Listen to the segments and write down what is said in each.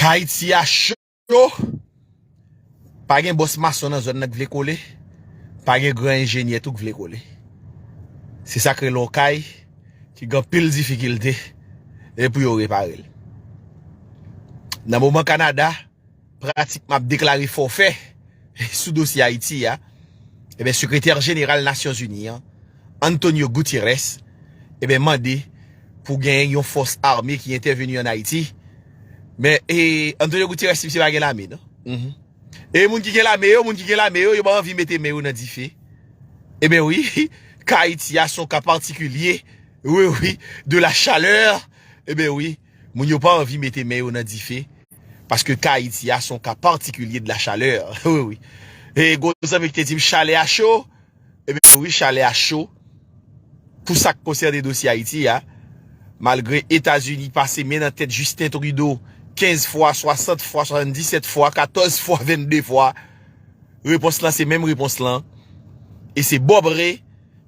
Kay ti a cho, pa gen bòs mason nan zòn nan k vle kole, pa gen gran enjenyè tou k vle kole. Se sa k rele yon kay ki gen anpil difikilte pou yo repare l. Nan moman Kanada. pratikman ap deklare fòfè sou dosye Ayiti a, eben Sekretè Jeneral Nasyon Zini an, Antonio Gutierrez, eben mande pou gen yon fòs ame ki entèveni an Ayiti, men e Antonio Gutierrez misye pa gen lame non, humm, e moun ki gen lame yo, moun ki gen lame yo, yo pa anvi mete men yo nan dife, eben wi, ka Ayiti a son ka patikilye, wi wi, de la chaleur, eben wi. Moun yo pa anvi mete men yo nan dife paske ka Ayiti a son ka patikilye de la chaleur. Wi wi. E gon zanmi ki te di m chalè a cho. Ebyen wi chalè a cho pou sa k konsène dosye Ayiti a. Malgre Etazini pase men nan tèt Justin Trudeau 15 fwa, 60 fwa, 77 fwa, 14 fwa, 22 fwa. Repons lan se menm repons lan. E se Bob Ray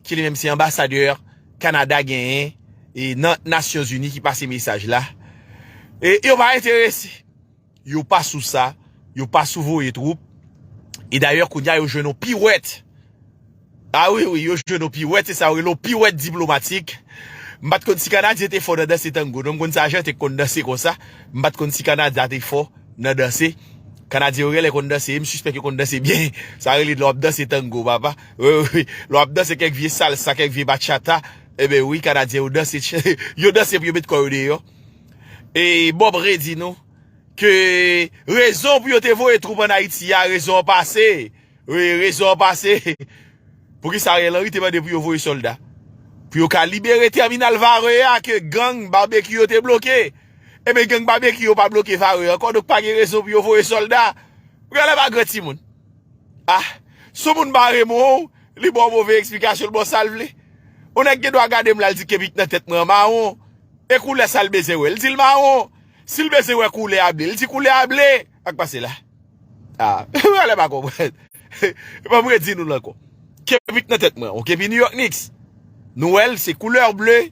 ki li menm se anbasadè. Kanada genyen e nan nasyon zini ki pase mesaj la e yo pa enterese yo pa sou sa yo pa sou voye twoup e dayè kounya yo jwenn yon piwèt a wi wi yo jwenn yon piwèt se sa yo rele yon piwèt diplomatik m pat konn si kanadyen te fò nan danse tango non m konn se ajanten ki konn danse konsa m pat konn si kanada te fò nan danse kanadyen yo genlè konn danse e m sispèk yo konn danse byen sa rele lè w ap danse tango papa. Wi lè wap danse kèk vye salsa kèk vye bachata Eben wi kanadyen yo danse Yo danse pou yo met kò yo deyò E Bob Ray di nou Ke rezon pou yo te voye twoup an Ayiti a rezon an pase Wi rezon an pase Poukisa Ariel Henry te mande pou yo voye sòlda Pou yo ka libere tèminal vare a ke gang barbecue yo te bloke Eben gang barbecue yo pa bloke vare ankò Donk pa gen rezon pou yo voye sòlda Ou gade la bagrè timoun. Ah sou moun pa remon w li baw move eksplikasyon l baw sal vle on nèg gen dwa gade m lal di kebik nan tèt mwen an mawon e koulè sal bezwen wè l dil mawon sil bezwen wè koulè a ble l di koulè a ble sak pase la ah m genlè pa konprann banm re di nou l ankò kebik nan tèt mwen an ok epi New York Knicks nou wè l se koulè ble.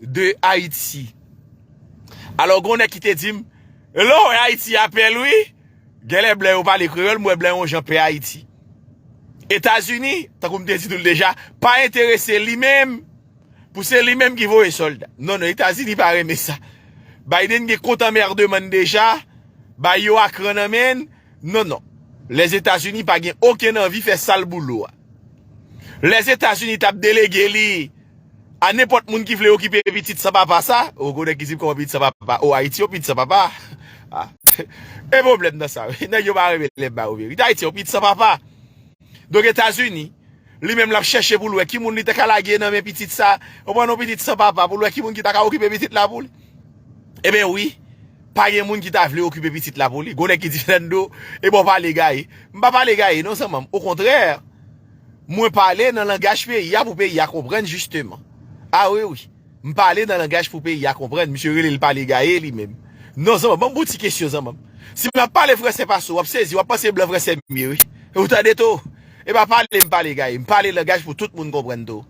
de Haiti. Alò gon nèg ki te dim, lè w wè Haiti a pè l wi, genlè blan yo pale kreyòl, m wè blan yon jan pè Haiti. Etazini, tankou m te di nou l deja, pa enterese li menm pou se li menm ki voye sòlda. Non non, Etazini pa renmen sa. Biden gen kont anmèrdman n deja, bay yo akran nan men n. Non non. Lèzetazini pa gen okenn anvi fè sal boulou a. Lèzetazini tap delege li a nenpòt moun ki vle okipe pitit san papa sa. Ou gwo nèg ki di koman pitit san papa. Ou Ayiti yon pitit san papa. Gen pwoblèm nan sa wi. Nèg yo pa renmen lèm ba yo verite. Ayiti yon pitit san papa. Donk Etazini, li menm lap chèche pou l wè ki moun li ta ka lage nan men pitit sa. Ou pran non pitit san papa pou l wè ki moun ki ta ka okipe pitit la pou li. Eben wi, pa gen moun ki ta vle okipe pitit la pou li. Gwo nèg ki di Fernando, e bon pale gaye. M pa pale gaye non zanman m. Okontrè, mwen pale nan langaj peyi a pou peyi a konprann jisteman. A wi wi, m pale nan langaj pou peyi a konprann. Misye rele l pale gaye li menm. Non zanman m, banm bon ti kesyon zanman m. Si m ap pale franse pase w, w ap sezi, w ap panse blan franse mye wi. Ou tande to? E pa pale m pale gaye. M pale langaj pou tout moun konprann to.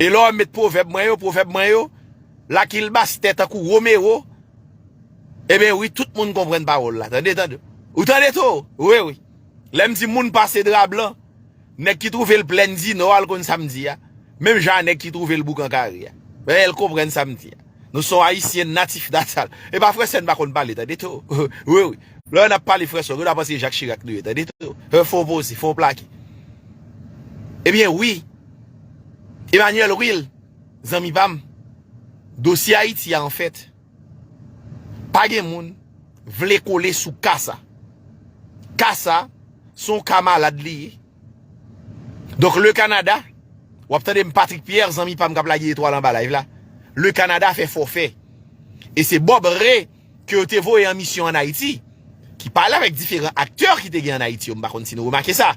E lè w wè m met pwovèb mwen yo, pwovèb mwen yo. Lucky l bastè tankou Romero Eben wi tout moun konprann pawòl la tande tande Ou tande to wi wi Lè m di moun pase dra blan Nèg ki twouve l plèn di nò a l konn sa m di a Menm jan a nèg ki twouve l boukan kare a Bèè l konprann sa m di a Nou s on ayisyen natif natal E pa frèsè n pa konn pale tande to wi wi Lò n ap pale frèsè w gen dwa panse se Jacques Chirac nou ye tande to wi Fon poze fon plake Eben wi Emmanuel wi l Zanmi pa m, dosye Ayiti a anfèt, pa gen moun vle kole sou ka sa. Ka sa, se yon ka malad li ye. Donk le Kanada, w ap tande m Patrick Pierre, zanmi pa m k ap lage etwal anba live la, le Kanada fè fòfè. E se Bob Re. ke yo te voye an misyon an Ayiti, ki pale avèk diferan aktè ki te gen an Ayiti yo, m pa konn si nou remake sa.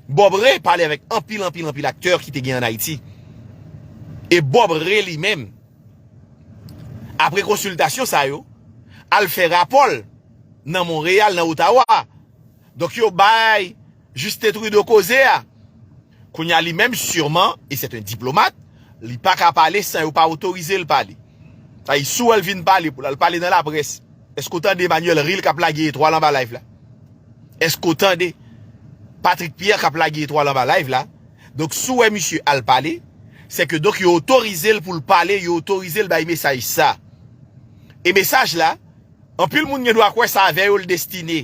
Bob Ray pale avèk anpil, anpil, anpil aktè ki te gen an Ayiti. E Bob Ray li menm, apre konsiltasyon sa yo, al fè rapò l nan Monreyal, nan Otawa. Donk yo bay Justin Trudeau koze a. Kounye a li menm sûrement et c'est un diplomate, li pa ka pale san yo pa otorize l pale. Sa vle di si w wè l vin pale pou l al pale nan laprès, èske w tande Emmanuel Ril k ap lage etwal anba live la? Èske w tande Patrick Pierre k ap lage etwal anba live la? Donk si w wè misye al pale, sè ke donk yo otorize l pou l pale, yo otorize l bay mesaj sa. E mesaj la, anpil moun gen dwa kwè sa avè yo l destine.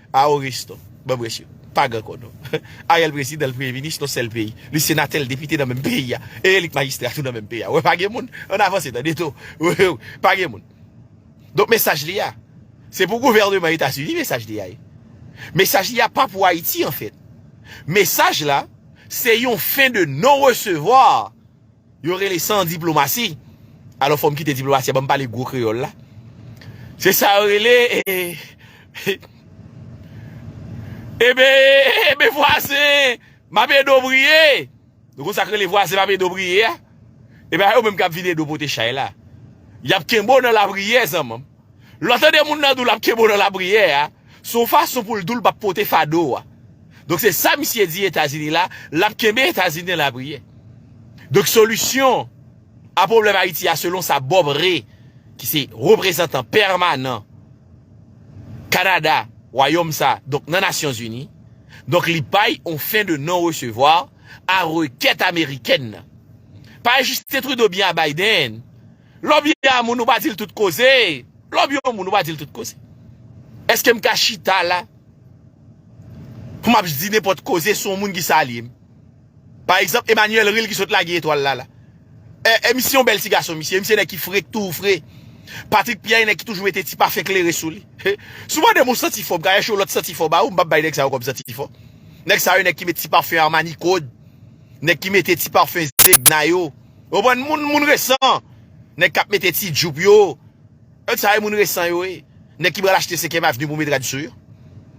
Ah ou riche tou. Bon mesye. Pa gran kò non. Ariel prezidan l premye minis non sèl peyi. Li senatè l depite nan menm peyi a. E li k majistra tou nan menm peyi a. Ou wè pa gen moun. Ann avanse tande tou. Pa gen moun. Donk mesaj li a. Se pou gouvèneman etazini mesaj li a ye. Mesaj li a pa pou ayiti anfèt. Mesaj la se yon fen de non resevwa Yo rele san diplomasi. Alò fò m kite diplomasi a ban m pale gwo kreyòl la. Se sa yo rele Ebe vwazen m ap ede w priye. Nou konn sa k rele vwazen m ap ede w priye a? Ebe a yo menm k ap vin ede w pote chay la. Y ap kenbe w nan lapriyè zanman m. Lè w tande moun nan di w l ap kenbe w nan lapriyè a, se yon fason pou l di w l p ap pote fado a. Donk se sa misye di Etazini la, l ap kenbe Etazini nan lapriyè. Donk solisyon a pwoblèm Ayiti a selon sa Bob Ray ki se reprezantan pèmanan Kanada, wayòm sa, donk nan Nasyonzini, donk li bay yon fen de non resevwa a rekèt amerikèn nan. Pa Justin Trudeau byen a Biden, Lè w byen yon moun ou pa di l tout koze, lè w byen yon moun ou pa di l tout koze. Eske m ka chita la pou m ap di nenpòt koze sou yon moun ki salye m? Pa egzanp Emmanuel Ril ki sot lage etwal la la. E misye yon bèl ti gason misye, e misye nèg ki fre, k toujou fre. Patrick Pierre yon nèg ki toujou mete ti pafen klere sou li. Si w mande m yon santi fò, m ka chèche yon lòt santi fò ba ou, m p ap bay nèg sa yo kòm santi fò. Nèg sa yo nèg ki mete ti pafen Armani Code, nèg ki mete ti pafen Zegna yo. Oubon moun moun resan. Nèg kap mete ti jupe yo. Nèg sa yo moun resan yo wi. Nèg ki pral achte 5 èm avni pou met rad sou yo.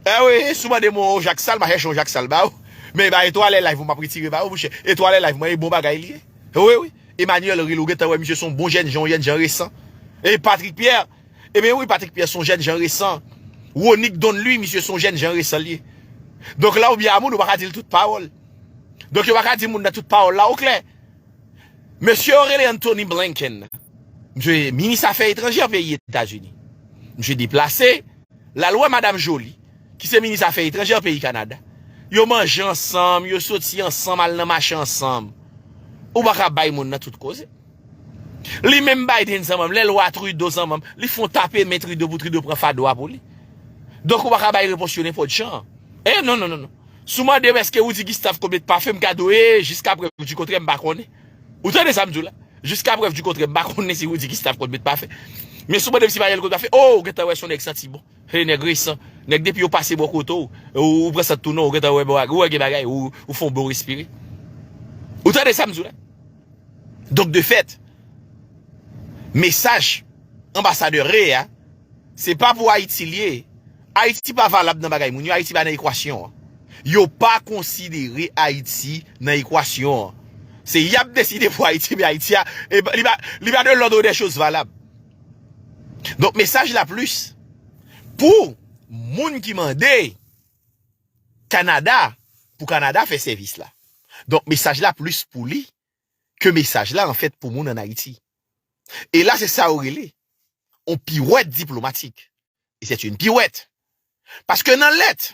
Eh wi si w mande m yon jak sal ma chèche yon jak sal ba ou. Men e ba etwale live mwen map retire ba ou mouche. Etwale live mwen e bon bagay li ye. Wi wi. Emmanuel Ril ou gentan wè misye son bon jènjan yon jènjan resan. E Patrick Pierre. E ben wi Patrick Pierre son jènjan resan. Ronick Don Louis misye son jènjan resan li ye. Donk la ou byen a moun ou pa ka di l tout pawòl. Donk yo pa ka di moun nan tout pawòl la ou klè. Mesye yo rele Antony Blinken nan. Misye se minis afè etranjè peyi Etazini. Misye deplase, l al wè Madam Joly, ki se minis afè etranjè peyi Kanada. Yo manje ansanm, yo soti ansanm al nan mache ansanm. Ou pa ka bay moun nan tout koze. Li menm Biden zanman m, lè l wè Trudeau zanman m, li fon tape men Trudeau pou Trudeau pran fado a pou li. Donk ou pa ka bay repons yo nenpòt jan. E non non non non. Si w mande m eske Rudy Gustave konbyen pa fè m kado e jiska prèv di kontrè m pa konnen. Ou tande sa m di w la? Jiska prèv di kontrè m pa konnen si Rudy Gustave konbyen pa fè. Men si w mande m si Mariel konbyen pa fè, oh ou gen tan wè son nèg santi bon. He nèg resan. Nèg depi yo pase bò kote w, ou pran sant tou non, ou gen tan wè bon ou wè gen bagay, ou fon bon respire. Ou tande sa m di w la? Donk de fèt, mesaj anbasadè re a. Se pa pou Ayiti l ye. Ayiti pa valab nan bagay moun yo. Ayiti pa nan ekwasyon an. Yo pa konsidere Ayiti nan ekwasyon an. Se y ap deside pou Ayiti, men Ayiti a, li pa de lòd ou dè choz valab. Donk mesaj la plis pou moun ki mande Kanada pou Kanada fè sèvis la. Donk mesaj la plis pou li ke mesaj la anfèt pou moun an Ayiti. E la se sa yo rele yon piwèt diplomatik. E sèt yn piwèt. Paske nan lèt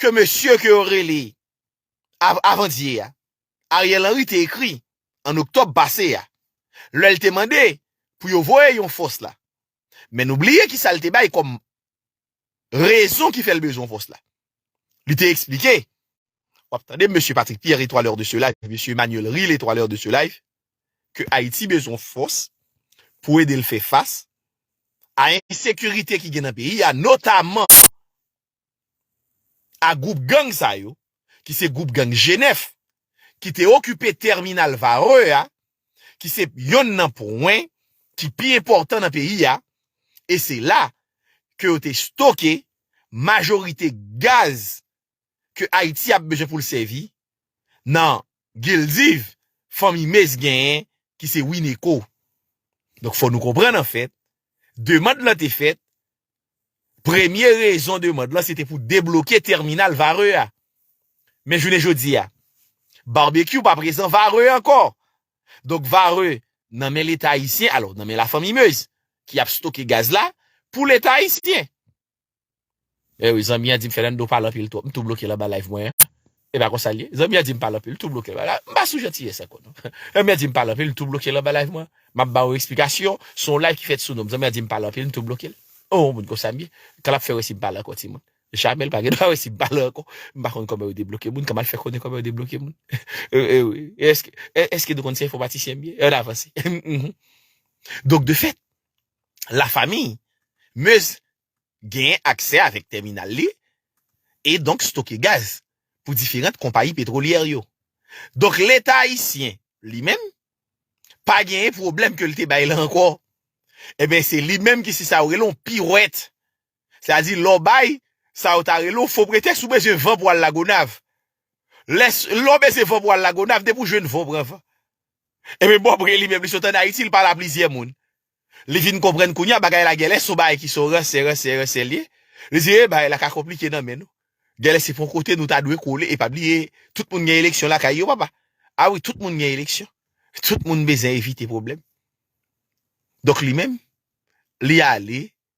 ke mesye ke yo rele Avandye a, Ariel Henry te ekri an Oktòb pase a, lè l te mande pou yo voye yon fòs la. Men nou bliye ki sa l te bay kòm rezon ki fè l bezwen pòs la. Li te eksplike, w ap tande Mesye Patrick Pierre etwa lè de se layf, Mesye Emmanuel Ril etwa lè de se layf, ke Ayiti bezwen fòs pou ede l fè fas a ensekirite ki gen nan peyi a, notaman a gwoup gang sa yo ki se gwoup gang Jenèf, ki te okipe tèminal Varreux a, ki se yonn nan pwen ki pi enpòtan nan peyi a, e se la ke yo te stoke majorite gaz ke Ayiti ap bezwen pou l sèvi nan Gildiv fanmi Mays genyen ki se Wineco. Donk fò nou konprann anfèt, demand lan te fèt Premye rezon demand lan se te pou debloke tèminal Varreux a. Men jounen jodi a, Barbecue pa prezan Varreux ankò. Donk Varreux nan men Leta ayisyen, alò nan men lafanmi Meuse ki ap stoke gaz la pou Leta ayisyen. Ewi zanmi an dim Fernando pale anpil twòp m tou blokel anba live mwen an. E pa konsa l ye? Zanmi an di m pale anpil, l tou bloke l anba live. M pa sou jantiyès ankò non. Zanmi an di m pale anpil, l tou bloke l anba live mwen. M ap ba ou eksplikasyon, s on live ki fèt sou non m. Zanmi an di m pale anpil, m tou bloke l. On moun konsa m ye. K l ap fè wè si m pale ankò timoun. Jamè l pa gen dwa wè si m pale ankò. M pa konn kòman yo debloke moun, k m al fè konnen kòman yo debloke moun. Èske nou konn se enfòmatisyen m ye? An avanse. Donk de fèt, la famiy Meuse genyen aksè avèk tèminal li e donk stoke gaz pou diferant konpayi petwolyè yo. Donk leta ayisyen li menm pa genyen pwoblèm ke li te bay la ankò. Enben se li menm ki se sa yo rele yon piwèt. Sa di lè w bay sa yo ta rele yon fo pretèks ou bezwen van pou al la Gonav. Lè w bezwen van pou al la Gonav depi w jwenn van w pran van. Enben Bob Ray li menm li sot an Ayiti li pale a plizyè moun. Li vin konprann kounya bagay la gèlè son bagay ki son ransè ransè ransè liye. Li di ee bagay la ka konplike nan men nou. Gèlè se pon kote nou ta dwe kole e pa bliye tout moun gen eleksyon lakay yo papa. A wi tout moun gen eleksyon. Tout moun bezwen evite pwoblèm. Donk li menm li ale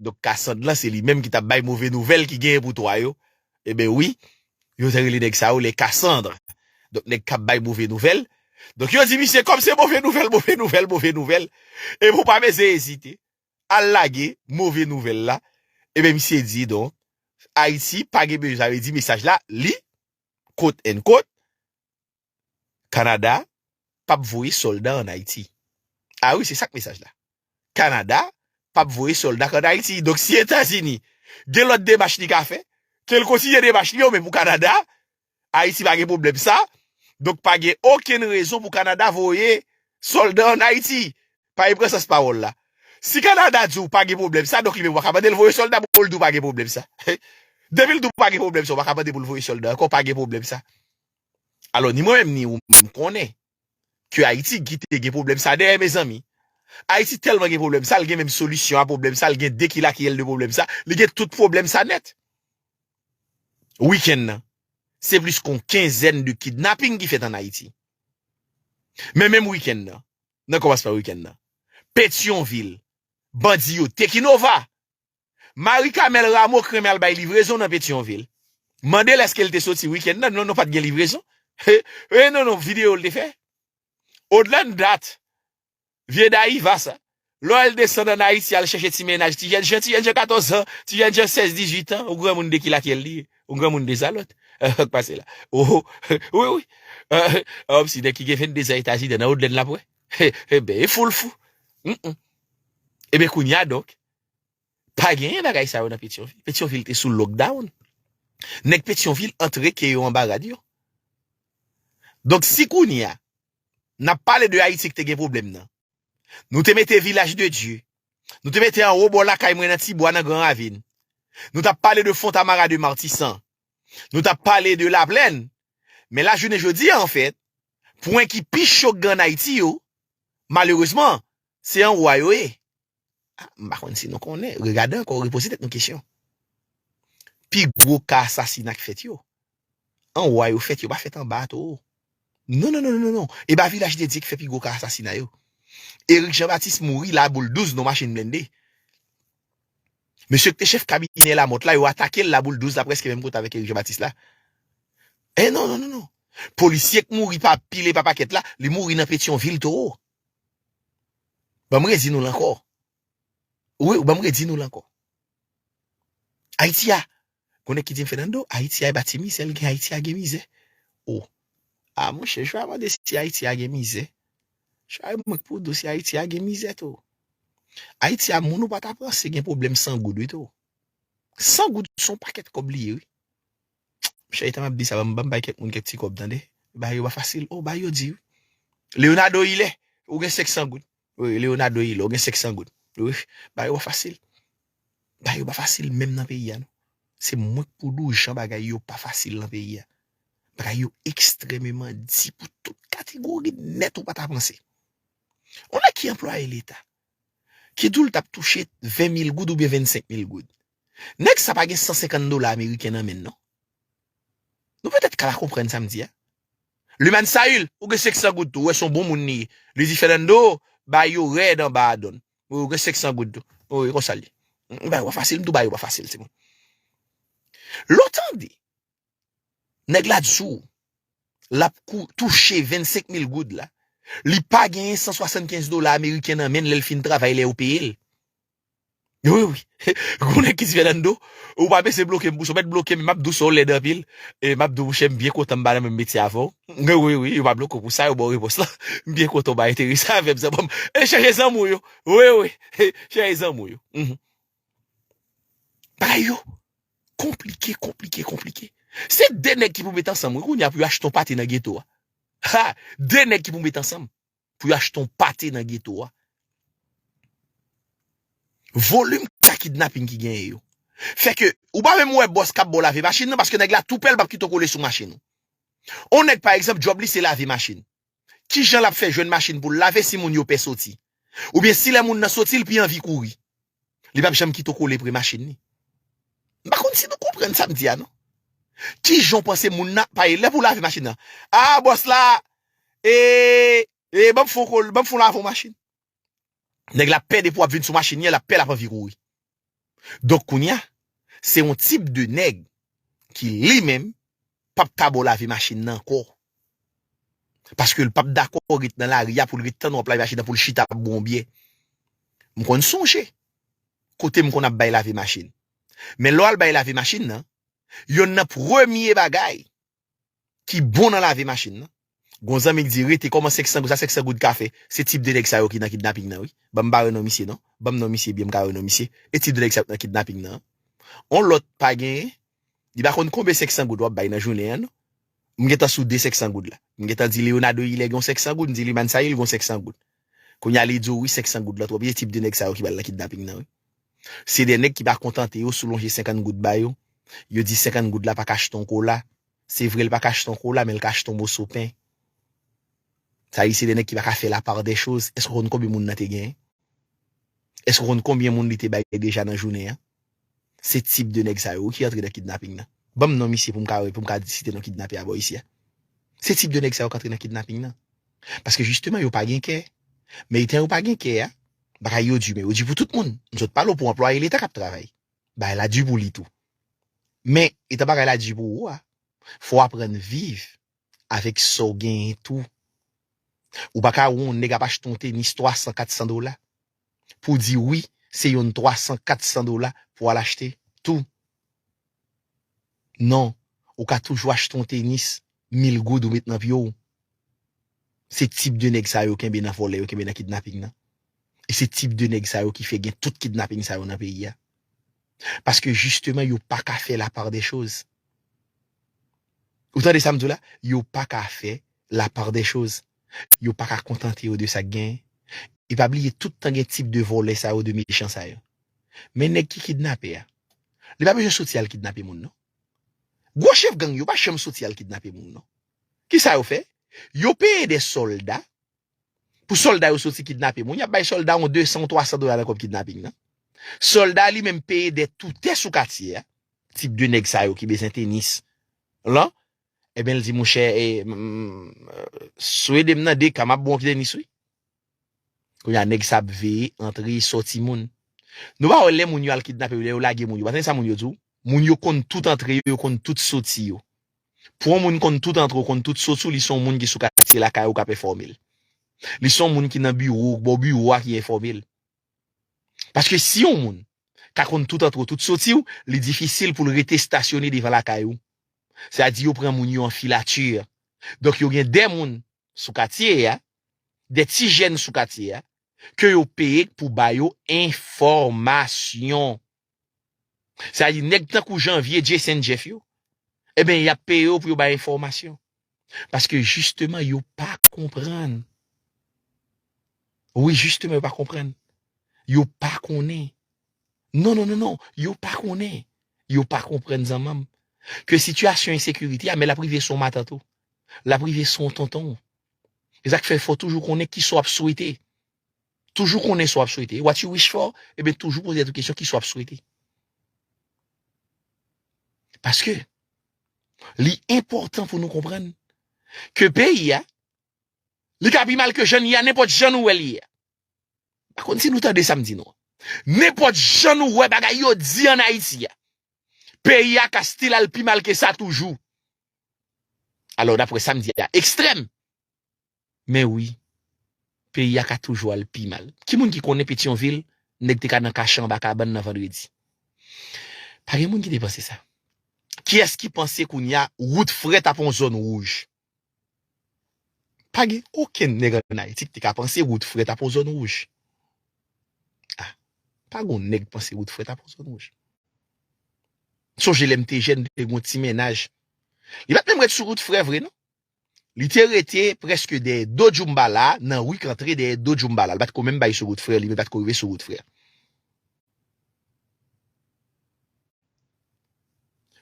Donk Cassandre lan se li menm ki tap bay move nouvèl ki genyen pou toi yo eben wi yo te rele nèg sa yo les Cassandres donk nèg kap bay move nouvèl donk yo di misye kòm se move nouvèl move nouvèl move nouvèl eben ou pa bezwen ezite al lage move nouvèl la eben misye di donk Ayiti pa gen bezwen sa vle di mesaj la li quote unquote. Canada pap voye solda an Haiti a wi se sak mesaj la Canada pap voye solda an Haiti donk si etazini gen lot demach li ka fè kel kontinye demach li yo men pou Canada Haiti pa gen problem sa donk pa gen okenn rezon pou Canada voye solda an Haiti pa e pran sans pawol la si Canada diw pa gen problem sa donk li menm waka mandel voye solda pou l diw pa gen problem sa depi l diw pa gen problem sa waka mandel pou l voye solda ankò pa gen problem sa. Alò ni mwen menm ni ou menm konnen ke Ayiti kite gen pwoblèm sa dèyè mezanmi. Ayiti tèlman gen pwoblèm sa, li gen menm solisyon a pwoblèm sa, li gen de kilakiyèl de pwoblèm sa, li gen tout pwoblèm sa nèt. Wikenn nan, se plis kon kenzèn de kidnaping ki fèt an Ayiti. Men menm wikenn nan, nan kòmansman wikenn nan, Petyonvil, bandi yo Tekinova, Marie Camelle Rameau k renmen al bay livrezon nan Petyonvil. Mande l eske l te soti wikenn nan, non non pat gen livrezon. He non non video l te fè. Odla n dat vye Dayiva sa. Lè w al desann an Ayiti al chèche ti mennaj ti jènjan, ti jènjan 14 zan, ti jènjan 16, 18 tan, ou granmoun de ki lakyèl li ye? Ou granmoun de zalòt? Sak pase la? Ohoh wi wi an msi nèg ki gen 22 zan etazi dan nan odlèn lap wè? He he ben e foul fou. Hum hum. Eben kounya donk Pa genyen bagay sa yo nan Petyonvil. Petyonvil te sou lockdown. Nèg Petyonvil antre ke yo anba rad yo. Donk si kounye a, n ap pale de Ayiti ki te gen pwoblèm nan. Nou te mete Vilaj de Dye. Nou te mete anwo bò lakay mwen nan ti bwa nan gran ravin. Nou t ap pale de Fontamara de Matisan. Nou t ap pale de Laplèn. Men la jounen jodi a anfèt, pwen ki pi cho k gan Ayiti yo, malerezman, Se an wa yo ye. M pa konn si nou konnen, regade ankò, repoze tèt nou kesyon. Pi gwo ka asasina k fèt yo, an wa yo fèt, yo pa fèt an ba towo. Non, non, non, non, non, e pa Vilaj Dedye ki fè pi gwo ka asasina yo. Erik Jan Batis mouri Laboul 12 nan machin blende. Mesye ki te chèf kabinè Lamòt la, yo atake l Laboul 12 la prèske menm kote avèk Erik Jan Batis la. E non, non, non, non. Polisye k mouri pa pile, pa pakèt la, li mouri nan Petyonvil towo. Ban m redi nou l ankò. Wi, ban m redi nou l ankò. Ayiti a, konnen ki di m Fènando, Ayiti a e pa ti mizè l gen, Ayiti a gen mizè. O, a monchè, jwa mande si Ayiti a gen mizè. Jwa e mwen k pou di w si Ayiti a gen mizè tou. Ayiti a moun ou pa ta panse gen pwoblèm san goud wi tou. San goud son pakèt kòb li ye wi. Mon chè etan map di sa banm banm bay kèk moun kèk ti kòb tande bagay yo pa fasil oh bagay yo di wi Leonardo Hilaire ou gen 500 goud wi Leonardo Hilaire ou gen 500 goud wi bagay yo pa fasil bagay yo pa fasil menm nan peyi a non se mwen k pou dou jan bagay yo pa fasil nan peyi a bagay yo ekstrememan di pou tout kategori nèt ou pa ta panse yon nèg ki anplwaye leta ki dou l tap touche 20000 goud oubyen 25000 goud Nèg sa pa gen 150 dola ameriken nan menn non. Nou petèt ka pa konprann sa m di a. Lumane Saül, ou gen 500 goud tou, ou wè son bon moun li ye. Li di Fernando, bay yo rèd anba a donn. Wi ou gen 500 goud tou. Wi konsa l ye. M bay ou a fasil, m tou bay ou a fasil timoun. Lè w tande Nèg la di sou ou. L ap touche 25 mil goud la. Li pa genyen 175 dola ameriken nan men l lè l fin travay lè yo peye l. Wi wi. Gwo nèg ki di Fènando, ou pa bese bloke m pou sa. Ou mèt bloke m, m ap di w sa w lèd anpil. E m ap di w mouche m byen kontan m pa nan menm metye avè w. Wi wi, yo pa bloke w pou sa, yo ba w repons lan. M byen kontan w pa enterese avè m. Chèche zanmi w yo. Wi wi. Chèche zanmi w yo. Bagay yo konplike, konplike, konplike. Se 2 nèg ki pou met ansanm wi kounye a pou yo achte yon pate nan geto a. Ha! 2 nèg ki pou met ansanm pou yo achte yon pate nan geto a. Volim ka kidnaping ki genyen yo. Fè ke ou pa menm wè bòs kap ba w lave machin nan paske nèg la tou pè l pap kite w kole sou machin ou. Yon nèg pa egzanp djòb li se lave machin. Ki jan l ap fè jwenn machin pou l lave si moun yo pè soti? Oubyen si lè moun nan soti l pi anvi kouri? Li p ap janm kite w kole pre machin li. M pa konn si nou konprann sa m di a non. Ki jan w panse moun nan ap pale lè pou w lave machin nan? A bòs la, ee, ee ban m fè yon kole, ban m fè yon lave yon machin. Nèg la pè depi wap vin sou machin li an lap pè lap anvi kouri. Donk kounya se yon tip de nèg ki li menm pap ka ba w lave machin nan ankò. Paske l pap dakò ret nan lari a pou l ret tann w ap lave machin nan pou l chita ap bwè yon byè. M konn sonje kote m konn ap bay lave machin. Men lè w al bay lave machin nan, yonn nan premye bagay ki bon nan lave machin nan. Gon zanmi ki di rete kòman 500 goud sa 500 goud ka fè? Se tip de nèg sa yo ki nan kidnaping nan wi. Ban m pa wè non misye non. Ban m non misye byen m ka wè non misye. E tip de nèg sa yo ki nan kidnaping nan. On lòt pa genyen. Li pa konn konbe 500 goud w ap bay nan jounen an non. M gentan soude 500 goud la. M gentan di Leonardo Hilaire gen yon 500 goud. M di Lumane Sahil gen yon 500 goud. Kounya li diw wi 500 goud lan twòp se tip de nèg sa yo ki pral nan kidnaping nan wi. Se de nèg ki pa kontante yo sou lonje 50 goud ba yo, yo di 50 goud la pa ka achte yon kola, se vre li pa ka achte yon kola men li ka achte yon moso pen. Sa li se de nèg ki pa ka fè la part des choses, èske w konn konbyen moun nan te genyen? Èske w konn konbyen moun li te bay deja nan jounen an? Se tip de nèg sa yo wi ki antre nan kidnaping nan. Banm non misye poum ka wè poum ka site non kidnape a bò isi a. Se tip de nèg sa yo k antre nan kidnaping nan. Paske jisteman yo pa gen kè. Men etan yo pa gen kè a, bagay yo di men yo di pou tout moun. M sot pale w pou anplwaye leta kap travay. Bagay la di pou li tou. Men etan bagay la di pou ou a, fò w aprann viv avèk sa w genyen tou. Ou pa ka wè yon nèg ap achte yon tenis 300, 400 dola. pou di wi se yon 300 400 dola pou al achte tou non ou ka toujou achte yon tenis mil goud ou met nan pye w se tip de nèg sa yo kenbe nan vòlè yo kenbe nan kidnaping nan e se tip de nèg sa yo ki fè gen tout kidnaping sa yo nan peyi a paske jisteman yo paka fè la part des choses. Ou tande sa m di w la? Yo pa ka fè lapardèchoz. Yo pa ka kontante yo de sa k genyen. E pa bliye tout tan gen tip de vòlè sa yo, de mechan sa yo. Men nèg ki kidnape a, li pa bezwen soti al kidnape moun non. Gwo chèf gang yo pa janm soti al kidnape moun non. Ki sa yo fè? Yo peye de sòlda Pou solda yo soti kidnape moun, y ap bay solda yon 200 ou 300 dola nan kòb kidnaping nan. Solda li menm peye dè toutè sou katye a, tip de nèg sa yo ki bezwen tenis lan, eben l di mouchè e sou ede m nan 2 ka m ap ba w anpil tenis wi. Kounye a nèg sa ap veye antre e soti moun. Nou pa wè lè moun yo al kidnape yo, lè yo lage moun yo, pa tande sa moun yo di w? Moun yo konn tout antre yo, yo konn tout soti yo. Pou yon moun konn tout antre w, konn tout soti w, li se yon moun ki sou katye lakay ou k ap enfòme l. Li se yon moun ki nan biwo ou, bò biwo a ki enfòme l. Paske si yon moun ka konn tout antre w, tout soti w, li difisil pou l rete stasyone devan lakay ou. Sa a di yo pran moun yo an filatè. Donk yo gen de moun sou katye a, de ti jèn sou katye a, ke yo peye pou ba yo enfòmasyon. Sa vle di nèg tankou Janvier, Jayson, Jeff yo, eben y ap peye yo pou yo bay enfòmasyon. Paske jisteman yo pa konprann. Wi jisteman yo pa konprann. Yo pa konnen. Non, non, non, non, yo pa konnen. Yo pa konprann zanmanm. Ke sitiyasyon ensekirite a men l ap rive sou yon matant ou. L ap rive sou yon tonton ou. E sa k fè fò toujou konnen kisa w ap swete. Toujou konnen sa w ap swete. What you wish for, eben toujou poze tèt ou kesyon kisa w ap swete. Paske, li enpòtan pou nou konprann ke peyi a, li ka pi mal ke jan li a, nenpòt jan nou wè li ye a. Pa konn si nou tande sa m di nou an. Nenpòt jan nou wè bagay yo di an Ayiti a, peyi a ka stil al pi mal ke sa toujou. Alò, dapre sa m di a, ekstrèm. Men wi, peyi a ka toujou al pi mal. Ki moun ki konnen Petyonvil nèg te ka nan kache anba kabann nan Vandredi? Pa gen moun ki te panse sa. Kiyès ki panse kounye a wout frèt ap yon zòn wouj? Pa gen okenn nèg ann Ayiti ki te ka panse wout frèt ap yon zòn wouj. A, pa gen yon nèg ki panse wout frèt ap yon zòn wouj. M sonje lè m te jèn, m te gen yon ti mennaj. Li pa t menm ret sou wout frèt vre non. Li te rete prèske dèyè do Djoumbala nan ri k antre dèyè do Djoumbala. Li pa t ko menm bay sou wout frè li, li pa t ko rive sou wout frè.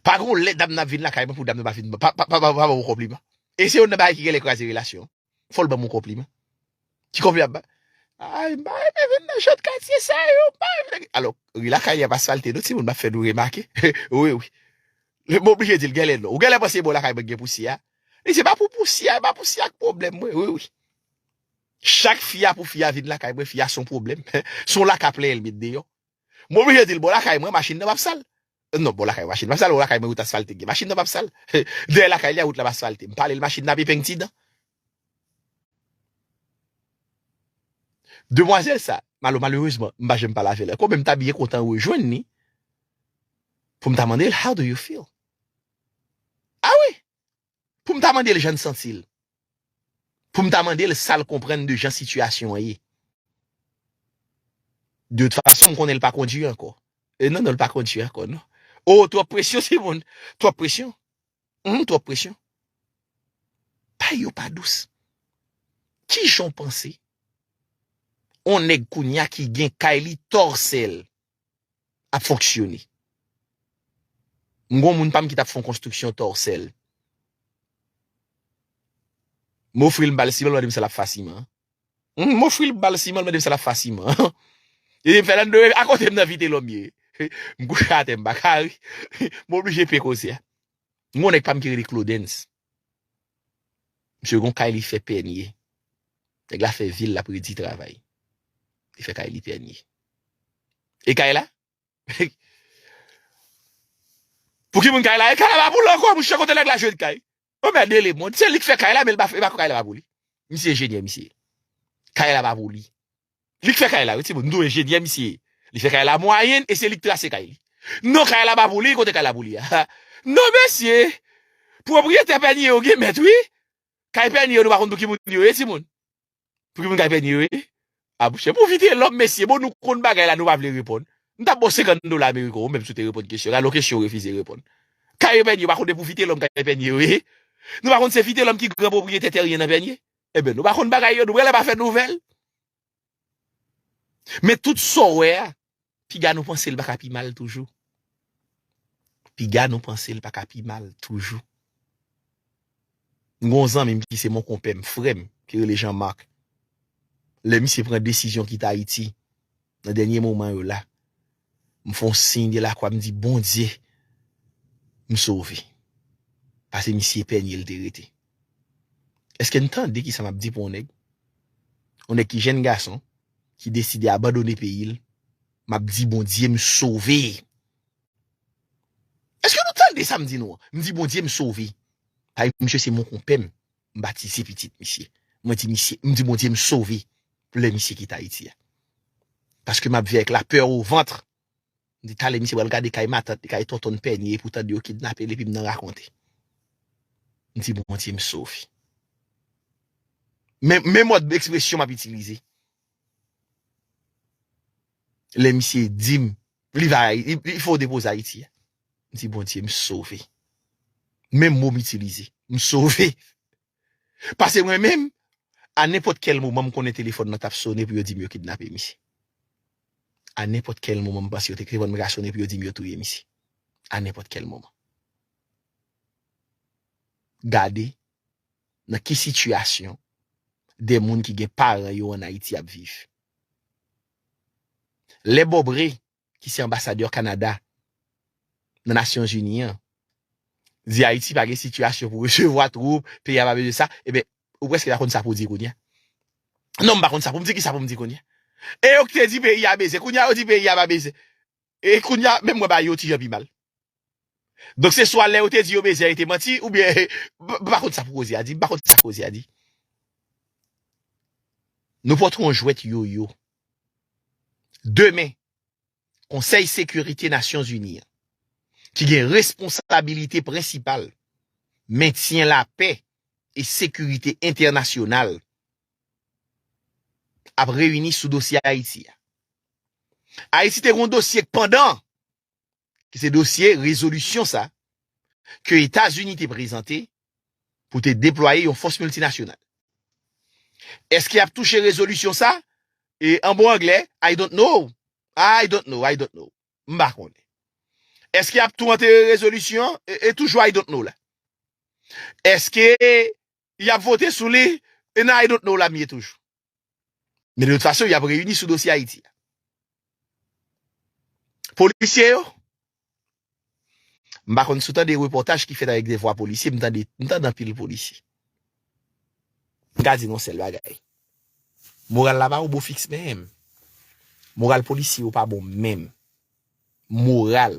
Pa gen yon lè dam nan ap vin lakay mwen pou dam nan pa fin pa ban mwen konpliman. E se yon nan bagay ki genlè kraze relasyon. Fò l ban mwen konpliman. Ki kòb li ap bay? Ay, m pa renmen vin nan jan de katye sa yo, m pa renmen. Alò, ri lakay an pa salte non timoun, m ap fè nou remake. Wi, wi. M oblije di l genlè non. Ou genlè panse e bò lakay mwen ki gen pousyè a? Li se pa pou pousyè, e pa pousyè a ki pwoblèm mwen. Wi, wi. Chak fya pou fya vin lakay mwen, fya se yon pwoblèm. Se yon laka plenyen li met deyò. M oblije di l bò lakay mwen machin nan pap sal. Non, bò lakay mwen machin nan pap sal, bò lakay mwen wout asfalte gen. Machin nan pap sal. Dèyè lakay li a wout la pa asfalte. M pale l machin nan ap epeng ti dan. Demwazèl sa, malo malerezman m pa janm pale avè l ankò men m ta byen kontan rejwenn li pou m ta mande l how do you feel? A wi! Pou m ta mande l jan l santi l. Pou m ta mande l sa l konprann de jan sitiyasyon an ye. De tout fason m konnen l pa kondui ankò. Non non l pa kondui ankò non. Oh twòp presyon Simone, twòp presyon. Humm trop presyon. Bagay yo pa dous. Kijan w panse on nèg kounya ki gen kay li tòsèl ap fonksyone? M gon moun pam ki tap fon konstriksyon tòsèl. M ofril m bal si lòl mande m sal ap fasiman. M ofri l bal siman l mande m sa l ap fè a siman an. Li di m Fernando e akote m nan Vitelòm ye. M kouche atè m pa ka ri. M oblije peye koze a. M gen yon nèg pa m ki rele Claudens. Misye gen yon kay li fè Pènye. Nèg la fè vi l l ap redi travay. Li fè kay li Pènye. E kay la? Pou ki moun kay la? E kay la pa pou l ankò mouche kote nèg la jwenn kay? Yon mèd de lemond. Se li k fè kay la men li pa fè kay la pa pou li. Misye enjenyè misye ye. Kay la pa pou li. Li k fè kay la wi timoun. M di w enjenyè misye ye. Li fè kay la mwayenn e se li k trase kay li. Non kay la pa pou li, kote kay la pou li a? Non mesye! Pwopriyetè pènye yo gen mèt wi. Kay pènye yo nou pa konn pou ki moun yo ye timoun. Pouki moun kay pè nye wi. Abouche pou vitelom mesye bon nou konn bagay la nou pa vle reponn m tap baw 50 dola american ou menm si w te reponn kesyon gade yon kesyon ou refize reponn kay yo pè nye ou pa konn se pou vitelom kay pè nye wi nou pa konn se vitelom ki gran pwopriyetè teryen nan pè nye eben nou pa konn bagay yo nou prale pa fè nouvel men tout sa w wè a Piga nou panse l pa ka pi mal toujou. Piga nou panse l pa ka pi mal toujou. M gen yon zanmi m ki se monkonpè m, frè m, ki rele Jean Marc. Lè misye pran desizyon kite Ayiti, nan dènye moman yo la, m fè yon siy delakwa m di Bondye m sove. Pase misye Pènye l te rete. Èske n tande ki sa m ap di pou yon nèg? Yon nèg ki jenn gason, ki deside abandone peyi l map di Bondye m sove eske nou tande sa m di nou an m di Bondye m sove paske misye se monkonpè m m batize pitit misye mwen di misye m di Bondye m sove pou lè misye kite Ayiti a paske map viv avèk lapè o vantr. Di talè misye pral gade kay matant li kay tontonn pènye epi w tande yo kidnape l epi m nan rakonte. M di Bondye m sove. Men men mòd ekspresyon m ap itilize. Lè misye di m li va li fè w depoze Ayiti a. M di Bondye m sove. Menm mo m itilize. M sove. Pase mwen menm, a nenpòt kèl moman m konnen telefòn nan t ap sone pou yo di m yo kidnape misye. A nenpòt kèl moman m panse yo te telefòn mwen ka sone pou yo di m yo touye misye. A nenpòt kèl moman. Gade nan ki sitiyasyon de moun ki gen paran yo an Ayiti ap viv. Lè Bobre ki se anbasadè Kanada nan Nasyon Zini an, di Ayiti pa gen sitiyasyon pou resevwa twoup, peyi a pa bezwen sa, e ben, ou prèske pa konn sa pou w di kounye a. Non, m pa konn sa pou m di, kisa pou m di kounye a? E yo ki te di peyi a bezwen, kounye a yo di peyi a pa bezwen. E kounye a, menm mwen ba yo ti jan pi mal. Donk se swa lè yo te di yo bezyen yo te manti oubyen m pa konn sa pou koze a di, m pa konn sa koze a di. Nou pot yon jwèt yoyo. Demen, Konsèy Sekirite Nasyon Zini an, ki gen responsabilite prensipal mentyen lapè e sekirite entènasyonal ap reyini sou dosye Ayiti a. Ayiti te gen yon dosye k pandan ki se dosye rezolisyon sa ke Etazini te prezante pou te deplwaye yon fòs miltinasyonal. Eske yap touche rezolisyon sa? E an bon anglè, I don't know. I don't know, I don't know. M pa konnen. Eske yap tou antere rezolisyon an? E toujou I don't know la. Eske yap vote sou li e nan I don't know la m ye toujou. Men de tout fason yap reyini sou dosye Ayiti a. Polisye yo, m pa konn si w tande repòtaj ki fèt avèk de vwa polisye, m tande, m tande anpil polisye. M ka di nou yon sèl bagay, moral la pa yon bo fiks menm. Moral polisye yo pa bon menm. Moral.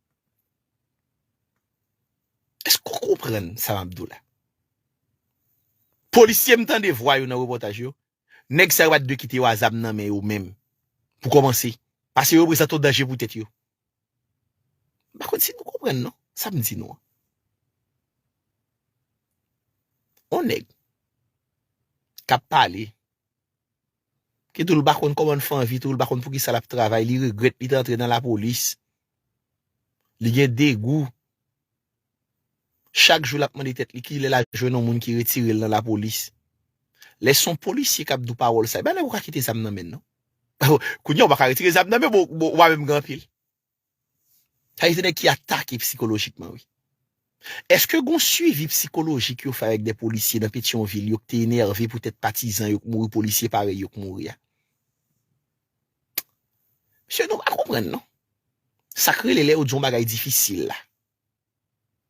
Eske w konprann sa map di w la? Polisye m tande vwa yo nan repòtaj yo, nèg sa yo pat dwe kite yo a zam nan men yo menm pou kòmanse, pase yo reprezante yon danje pou tèt yo. M pa konn si nou konprann non sa m di nou an. On nèg kap pale, ki di w l pa konn kòman l fè anvi tou, l pa konn poukisa lap travay, li regrèt li te antre nan lapolis. Li gen degou. Chak jou lap mande tèt li kilè la jwenn yon moun ki retire l nan lapolis. Lè son polisye kap di w pawòl sa, epa nèg ou ka kite zam nan men l non. Kounya ou pa ka retire zam nan men bon ou pa menm gen anpil. Sa vle di se nèg ki atake psikolojikman wi. Eske gon swivi psikolojik yo fè avèk de polisye nan Petyonvil yo ki te enève poutèt patizan yo k mouri polisye parèy yo k mouri a? Mesye nou pa konprann non. Sa k rele lè yo di yon bagay difisil la.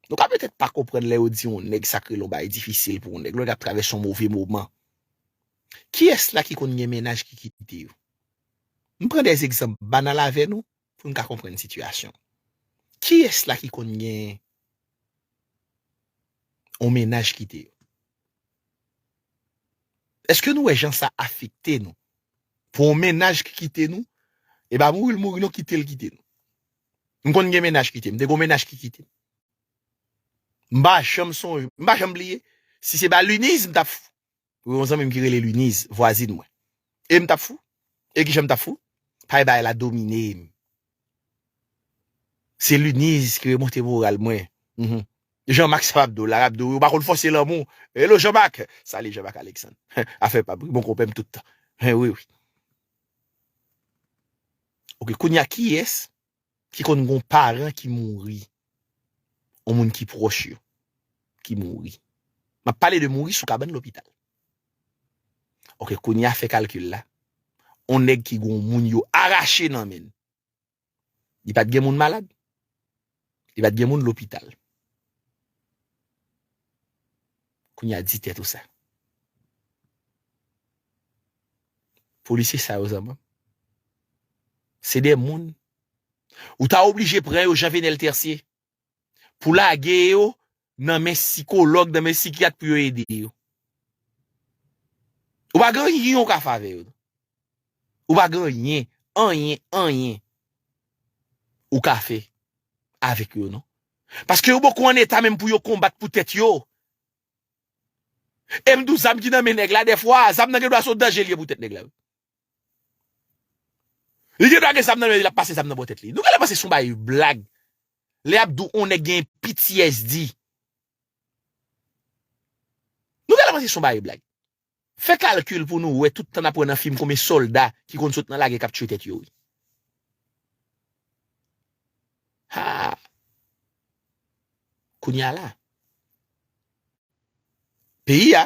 Nou ka petèt pa konprann lè yo di yon nèg sa k rele yon bagay difisil pou yon nèg. Lè l ap travèse yon move moman. Kiyès la ki konn gen mennaj ki kite yo? M pran de egzanp banal avè nou pou n ka konprann sitiyasyon. Kiyès la ki konn gen yon mennaj kite yo? Eske nou wè jan sa afekte nou? Pou yon mennaj ki kite nou, e pa mouri l mouri non kite l kite nou. M konn gen mennaj kite m, m te gen yon mennaj ki kite m. M pa janm sonje, m pa janm bliye, si se pa Luniz m t ap fou. Pou yon zanmi m ki rele Luniz, vwazin mwen. E m t ap fou. E ki jan m t ap fou? Pay bay la domine m. Se Luniz ki remonte moral mwen uhmm Jean Marc sa pap do la lap do wi ou pa konn fòse lanmou Hello Jean Marc Salut Jean Marc Alexandre afè pam wi bon konpè m tout tan hein wi wi Ok kounya kiyès ki konn gon paran ki mouri yon moun ki pwòch yo ki mouri map pale de mouri sou kabann lopital. Ok kounya fè kalkil la on nèg ki gon moun yo arache nan menn li pat gen moun malad li pat gen moun lopital kounya di tèt ou sa polisye sa yo zanmanm se de moun ou ta oblije pran yo jan venel tercier pou lage yo nan men sikològ, nan men sikyat pou yo ede yo. Ou pa gen anyen ou ka fè avè yo. Ou pa gen anyen, anyen, anyen ou ka fè avèk yo non. Paske yo poko an eta menm pou yo konbat pou tèt yo. E m di w zam ki nan men nèg la dèfwa, zam nan gen dwa se yon danje li ye pou tèt nèg la. Li gen dwa gen zam nan men li ap pase zam nan bò tèt li. Nou genlè panse son bagay blag lè yap di w on nèg gen ptsd. Nou genlè panse son bagay blag. Fè kalkil pou nou wè tout tan nap wè nan fim konbyen sòlda ki konn sot nan lagè kap tchwe tèt yo wi. Haa. Kounya la. Peyi a.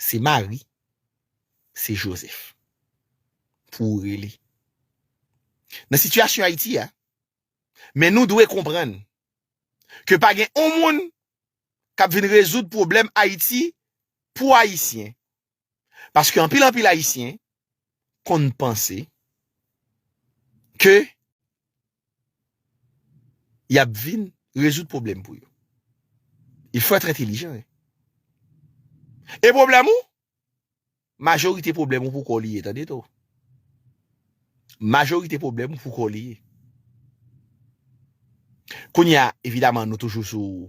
Se Mari, se Jozèf pou ou rele. Nan sitiyasyon Ayiti a, men nou dwe konprann ke pa gen yon moun k ap vin rezoud pwoblèm Ayiti pou Ayisyen, paske anpil anpil Ayisyen konn panse ke y ap vin rezoud pwoblèm pou yo. Il faut être intelligent hein. E pwoblèm ou? Majorite pwoblèm ou pou kò w li ye tande to. Majorite pwoblèm ou pou kò w li ye. Kounye a, evidaman nou toujou sou.